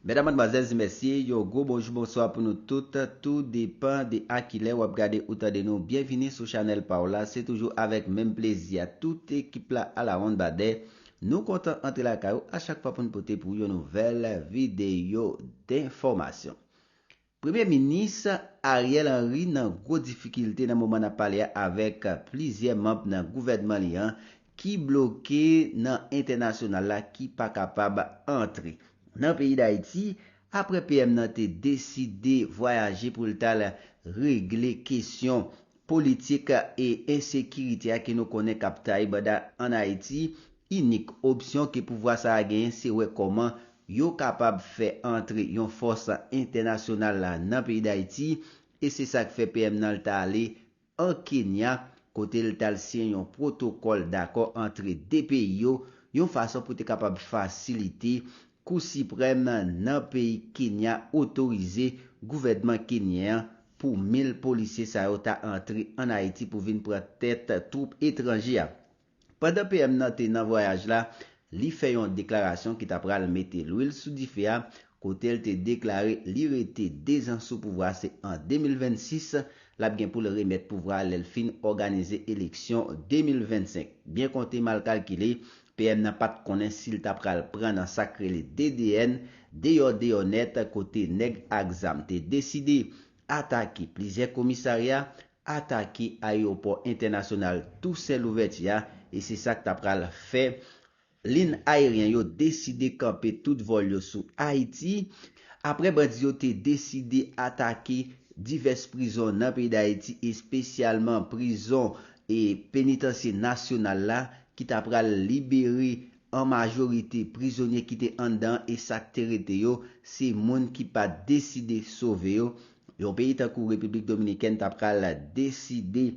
Medam madmwazèl di mèsi yon gwo bonjou bonswa pou nou tout tou depan de a kilè wap gade ou tande nou byenvini sou chanèl paw la se toujou avèk menm plezi a tout ekip la alawonn badè nou kontan antre lakay ou a chak fwa poun pote pou ou yon nouvèl videyo denfòmasyon Premye minis Ariel Henry nan gwo difikilte nan moman nap pale a avèk plizyè manb nan gouvènman li an ki bloke nan entènasyonal la ki pa kapab antre nan peyi Dayiti aprè PM nan te deside vwayaje pou l tal regle kesyon Politik e ensekirite a ke nou konnen k ap taye banda ann Ayiti, inik opsyon ke pouvwa sa a genyen se wè kòman yo kapab fè antre yon fòs entènasyonal nan peyi Dayiti e se sa k fè PM nan l t ale an Kenya kote l t al siyen yon pwotokòl dakò antre 2 peyi yo yon fason pou te kapab fasilite Kou Siprèm nan peyi Kenya otorize gouvènman kenyen an pou 1000 polisye sa yo ta antre an Ayiti pou vin pran tèt twoup etranje a. Pandan PM nan te nan vwayaj la, li fè yon deklarasyon ki ta pral mete lwil sou dife a kote l te deklare li rete 2 zan sou pouvwa se an 2026 l ap gen pou l remèt pouvwa a lè l fin òganize eleksyon 2025. Byen konte mal kalkile, PM nan pat konnen sil ta pral pran nan sak rele DDN deyò deyò nèt kote nèg ak zam te deside atake plizyè komisarya, atake ayewopò entènasyonal Tousen Louvèti a e se sak ta pral fè lin ayeryen yo deside kanpe tout vòl yo sou Ayiti apre bandi yo te deside atake divès prizon nan peyi Dayiti espesyalman prizon e penitansye nasyonal la ki ta pral libere an majorite prizonye ki te anndan an e sa k te rete yo, se moun ki pa t deside sove yo, yon peyi tankou Repiblik Dominikèn ta pral deside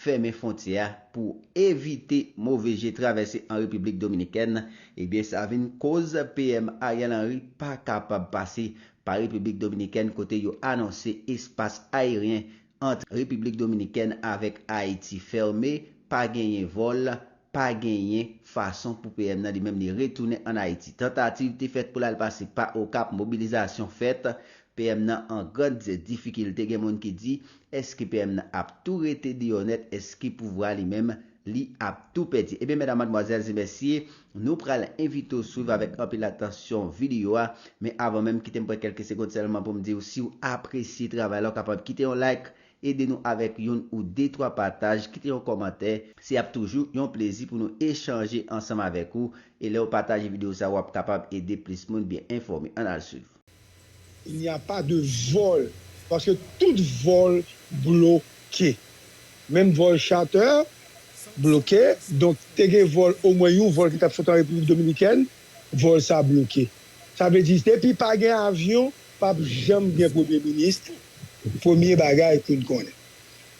fèmen fwontyè a pou evite move je travèse an Repiblik Dominikèn, ebyen sa vin koz PM Ariel Henry pa kapab pase pa Repiblik Dominikèn kote yo anonse espas ayeryen ant Repiblik Dominikèn avèk Ayiti fèmen, pa genyen vòl, pa genyen fason pou PM nan li menm li retounen ann Ayiti. Tantativ te fèt pou l al pase pa Okap, mobilizasyon fèt, PM nan an grand difikilte, gen moun ki di, èske PM nan ap tou rete deyò nèt, èske pouvwa li menm li ap tou pèdi? Ebyen mèdam, madmwazèl e mèsye, Nou pral envite w swiv avèk anpil atansyon videyo a, men avan menm kite m pran kèlke segond sèlman pou m di w si w apresye travay la w kapab kite yon like, ede nou avèk youn ou de twa pataj, kite yon kòmantè, se ap toujou yon plezi pou nou echanje ansanm avèk ou, e lè w pataje videyo sa w ap kapab ede plis moun byen enfòme. Ann al swiv. Il n'y a pas de vol paske tout vol bloke. Menm vol charter bloke donk te gen vol omwen yon vol ki tap sot an République Dominicaine vol sa bloke. Sa vle di depi pa gen avyon pap janm gen premye ministre premye bagay poun konnen.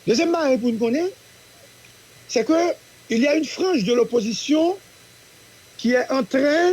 Dezyèm bagay poun konnen c'est que il y a une frange de l'opposition ki est entren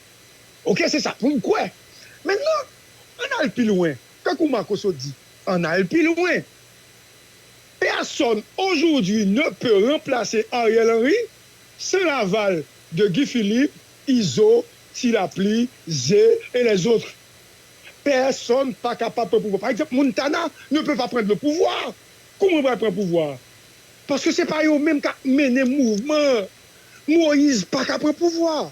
Ok se sa poum kwè. Men non, ann al pi lwen, tankou Marcoso di, ann al pi lwen. Personne aujourd'hui ne peut remplacer Ariel Henry sans l'aval de Guy Philippe, Izo, Ti Lapli, Ze et les autres. Personne pa kapab pran pouvwa. Par exemple Montana ne peut pas prendre le pouvoir. Kouman yo pral pran pouvwa a? Paske se pa yo menm kap mennen mouvman an. Moise pa ka pran pouvwa.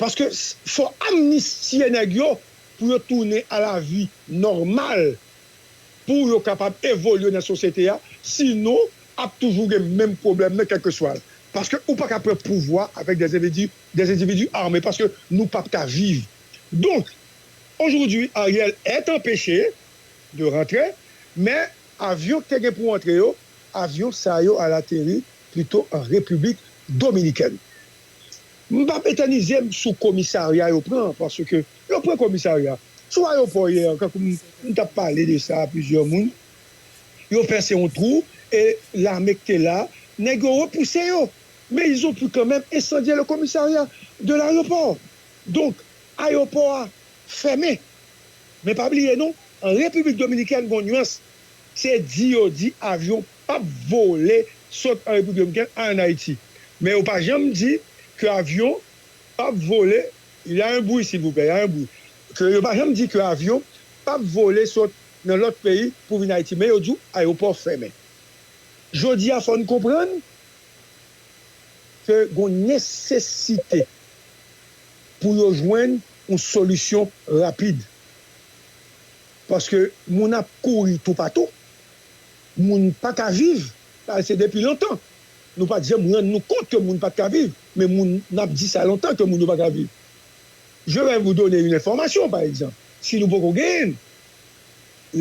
Paske fò amnistye nèg yo pou yo tounen a la vi nòmal pou yo kapab evolye nan sosyete a sinon ap toujou gen menm pwoblèm nan kèlkeswa l paske ou pa ka pran pouvwa avèk dè endividi dè endividi ame paske nou pap ka viv donk ojodwi Ariel est anpeche de rantre men avyon ki te gen pou antre yo avyon sa yo al ateri pito an repiblik dominikèn. M pap etènize m sou komisarya yo pran paske yo pran komisarya sou ayopò yè tankou m tap pale de sa a plizyè moun yo pèse yon twou e lame k te la nèg yo repouse yo men ils ont pu quand même incendier le commissariat de l'aeroport donk ayopò a fèmen men pa bliye non an repiblik dominikèn gon nuans se di yo di avyon pap vole sot an Repiblik Dominiken al an Ayiti. Men yo pa janm di ke avyon pap vole, il y a un bruit silvouplè, y a un bruit, ke yo pa janm di ke avyon pap vole sot nan lòt peyi pou vin Ayiti men yo di w ayewopò fèmen. Jodi a fò n konprann ke gon nesesite pou yo jwenn yon solisyon rapid paske moun ap kouri toupatou. Moun pa ka viv, sa se depi lontan. Nou pa t janm rann nou kont ke moun pa t ka viv, men moun, n ap di sa lontan ke moun yo pa ka viv. Je vais vous donner une information, pa egzanp, si nou poko genyen l,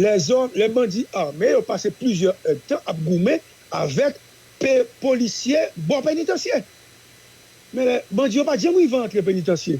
lèzòm, lè bandi ame yo pase plizyè èdtan ap goumen avèk pe, polisye bò penitansye. Men lè bandi yo pa t janm rive antre penitansye.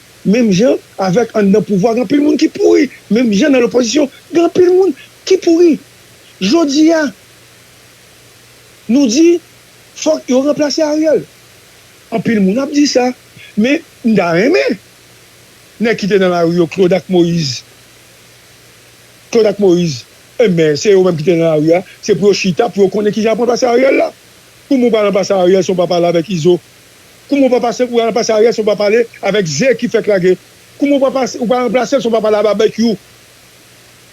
Menm jan avèk anndan pouvwa gen anpil moun ki pouri, menm jan nan lopozisyon gen anpil moun ki pouri. Jodi a nou di fòk yo ranplase Ariel. Anpil moun ap di sa. Men m ta renmen nèg ki te nan lari yo Claude ak Moïse Claude ak Moïse enben se yo menm ki te nan lari a se pou yo chita pou yo konnen kijan yo pral ranplase Ariel la. Pou moun pa ranplase Ariel se yon pa pale avèk Izo Kouman ou pa pase pou ranplase Ariel si ou pa pale avèk ze ki fèk lage? Kouman ou pa pase ou pa ranplase l si ou pa pale a Babekyou?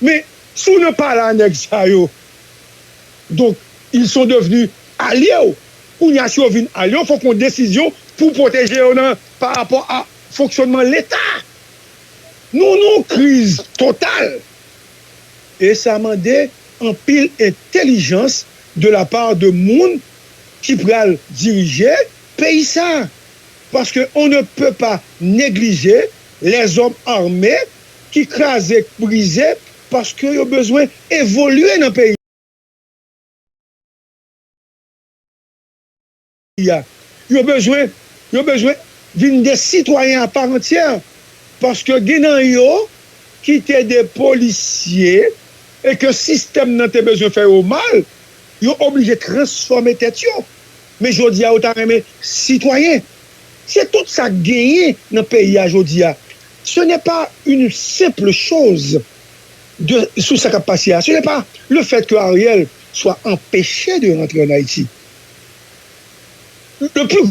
Men, si w nan pale a nèg sa yo, donk ils sont devenus alye w. Kounye a si yo vin alye w, fòk yon desizyon pou pwoteje yo nan pa rapò a fonksyònman leta. Nou nan yon kriz total e sa mande anpil entelijans de la part de moun ki pral dirije peyi sa a, paske on ne peut pas neglije lèzòm arme ki kraze k brize paske yo bezwen evolye nan peyi a, yo bezwen yo bezwen vin de sitwayen a part entière paske gen nan yo ki te de polisye e ke sistèm nan te bezwen fè yo mal Yo oblije transfòme tèt yo. Men jodi a yo ta renmen sitwayen. Se tout sa k genyen nan peyi a jodi a. Ce n'est pas une simple chose de sou sa k ap pase a. Ce n'est pas le fait que Ariel soit empêche de rentrer en Haïti. Le plus.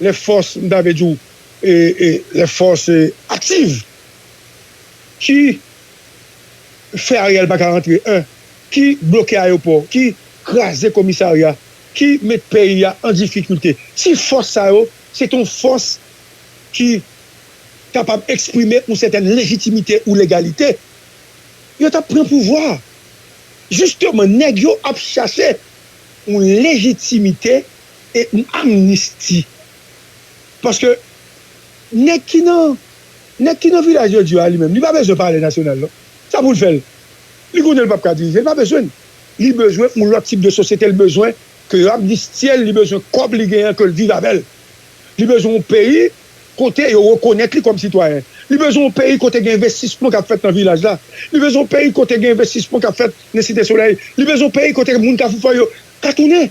lè fòs m ta vle di w lè fòs aktiv ki fè Ariel pa ka antre 1 ki bloke ayopò ki kraze komisarya ki met peyi a an difikilte si fòs sa yo se t on fòs ki kapab eksprime yon sètèn lejitimite ou legalite yo t ap pran pouvwa a jisteman nèg yo ap chache yon lejitimite e n amnisti paske nèg ki nan nèg ki nan vilaj de Dieu a li menm li pa bezwen palè nasyonal non sa pou l fè l li konnen l pap ka dirije l pa bezwen l li bezwen yon lòt tip de sosyete l bezwen ke yo amnistye l li bezwen kòb li genyen an ke l viv avè l li bezwen yon peyi kote yo rekonèt li kòm sitwayen li bezwen yon peyi kote gen envestisman kap fèt nan vilaj la li bezwen yon peyi kote gen envestisman kap fèt nan site solèy li bezwen yon peyi kote moun kafou fò yo ka tounen.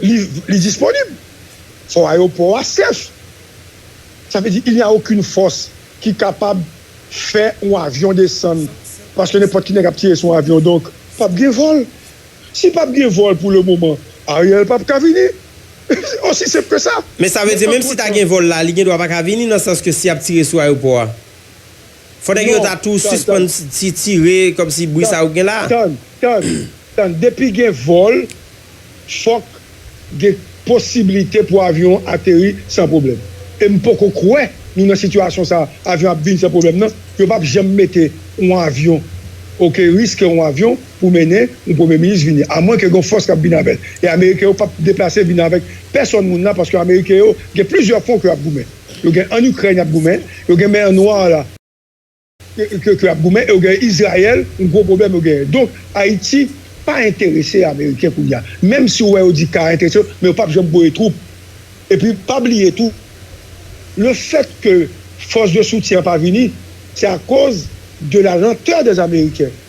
Li disponib. Fò ayopò a sèf. Sa vle di il n'y a aucune fòs ki kapab fè yon avyon desann paske nenpòt ki nèg ap tire sou yon avyon donk pap gen vòl. Si pap gen vòl pou le moman Ariel pap ka vini. Se osi senp ke sa. Men sa vle di menm si ta gen vòl la li gen dwa pa ka vini nan sans ke si yap tire sou ayopò a. Fò nèg yo ta tou sispann ti tire kòm si bri sa yo k gen la. Tann, tann, tann depi gen vòl fòk gen posibilite pou avyon an ateri san pwoblèm e m poko kwè nou nan sitiyasyon sa avyon ap vin san pwoblèm nan, yo pap janm mete yon avyon ok riske yon avyon pou mennen yon premye minis vini a mwen ke gen fòs kap vin avèl e ameriken yo pap deplase vin avèk pèsòn moun la paske ameriken yo gen plizyè fwon ke yap goumen. Yo gen an Ukraine yap goumen, yo gen mer noir la ke ke yap goumen e yo gen Israel yon gwo pwoblem yo genyen donk Haiti pa enterese ameriken kounya menm si ou wè yo di ka enterese yo men yo pap janm voye twoup epi pa bliye tou le fèt ke fos de soutyen an pa vini se akoz de la lenteur des ameriken.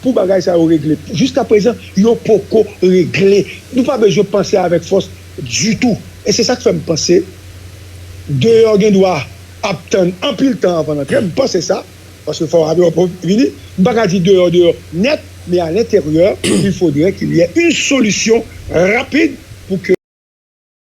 Pou bagay sa yo regle. Jiska prezan yo poko regle. Nou pa bezwen panse avèk fòs ditou. E se sa k fè m panse deyò gen dwa ap tann anpil tan anvan l antre. M panse sa. Paske fò Ador Pov vini. M pa ka di deyò deyò nèt. Men a lenteryè il fodrè kil yè yn solisyon rapid pou ke.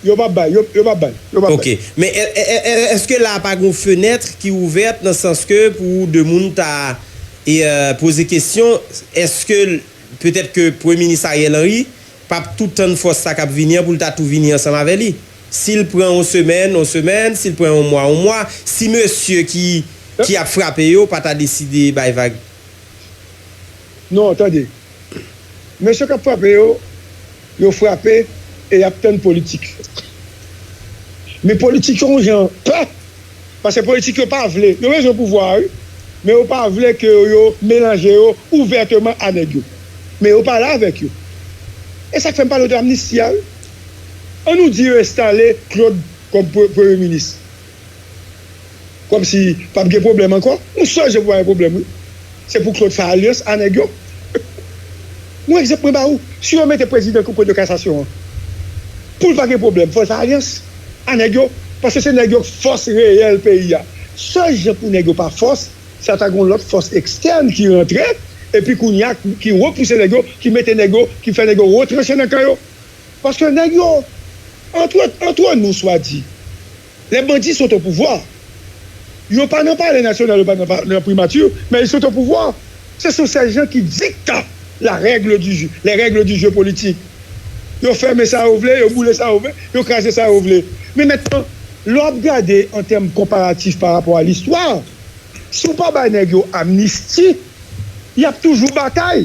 Yo pap bay, yo pap bay, yo pap bay. Ok, men eske la pa gon fenêtre ki ouverte nan sans ke pou de moun ta poze kesyon eske petèt ke premye minis Ariel Henry pap tou tann fòs sa kap vini an poul ta tou vini ansanm avè li? Sil pran yon semèn, yon semèn, sil pran yon mwa, yon mwa, si mesye ki ap frape yo pa ta deside bay vag? Non, tande. Mesye k ap frape yo, yo frape e y ap tann politik. Men politik yo yon jan pè, pase politik yo pa vle, yo bezwen pouvwa a wi, men yo pa vle ke yo melanje yo ouvèteman a nèg yo. Men yo pale avèk yo. E sa k fè m pale w de amnisti a wi. An nou di yo enstale Claude kòm premye minis. Komsi pap gen pwoblèm ankò? Mwen sonje pou pa gen pwoblèm wi. Se pou Claude fè alyans a nèg yo. Yon egzanp mwen ba ou, si yo mete prezidan kou de kasasyon an, pou l pa gen pwoblèm fò l fè alyans a nèg yo. Paske se nèg yo k fòs reyèl peyi a. Sèl jan pou nèg yo pa fòs, se ata gen yon lòt fòs ekstèn ki rantre epi kounye a ki repouse nèg yo, ki mete nèg yo, ki fè nèg yo retranche nan kan yo. Paske nèg yo, antre, antre nou swa di, lè bandi sot opouvwa, yo pa nan palè nasyonal, yo pa nan pa, nan primati, men yo sot opouvwa, se sou sèjan ki dikta la règle du jeu, les règles du jeu politique. Yo fèmen sa yo vle, yo boule sa yo vle, yo kraze sa yo vle. Men mètnan, lè w ap gade an tèm konparatif pa rapò a listwa, si w pa bay nèg yo amnisti, y ap toujou batay.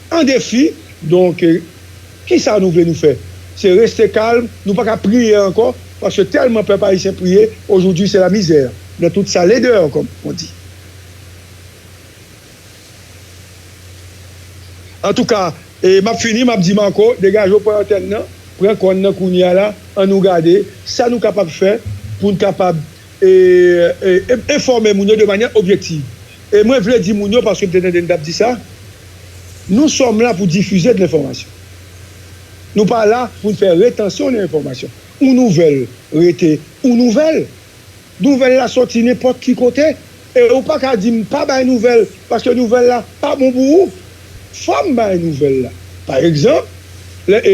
An defi, donk kisa nou vle nou fè? Se reste kalm, nou pa ka priye ankò paske tèlman pèp ayisyen priye ojoudwi se la mizè nan tout sa ledèr kòm on di. Antouka, e map fini map di Marco degaje w pran antèn nan, pran kòn nan kounye a la an nou gade sa nou kapab fè poun kapab enfòme moun yo de manyè objektiv. E mwen vle di moun yo, paske m te tande n t ap di sa, nou sòm la pou difize de lenfòmasyon. Nou pa la pou n fè retansyon de lenfòmasyon. Yon nouvèl rete yon nouvèl. Nouvèl la soti nenpòt ki kote. E ou pa ka di m pa bay nouvèl paske nouvèl la pa bon pou ou. Fò m bay nouvèl la. Pa egzanp, lè e,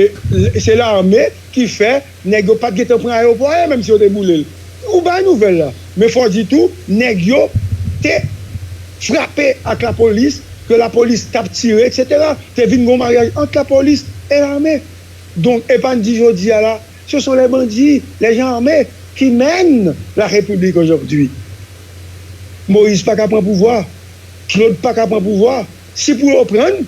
se lame ki fè Nèg yo pat gentan pran ayewopò a ye menm si yo te boule l. Ou bay nouvèl la. Men fò w di tou nèg yo te frape ak lapolis, ke lapolis t ap tire eksetera. Te vin gon maryaj ant lapolis e lame. Donk e pa n di jodi a la se son lè bandi, lè jan ame ki mèn la repiblik ojòvdui. Moyiz pa ka pran pouvwa, Klod pa ka pran pouvwa. Si pou yo pran n.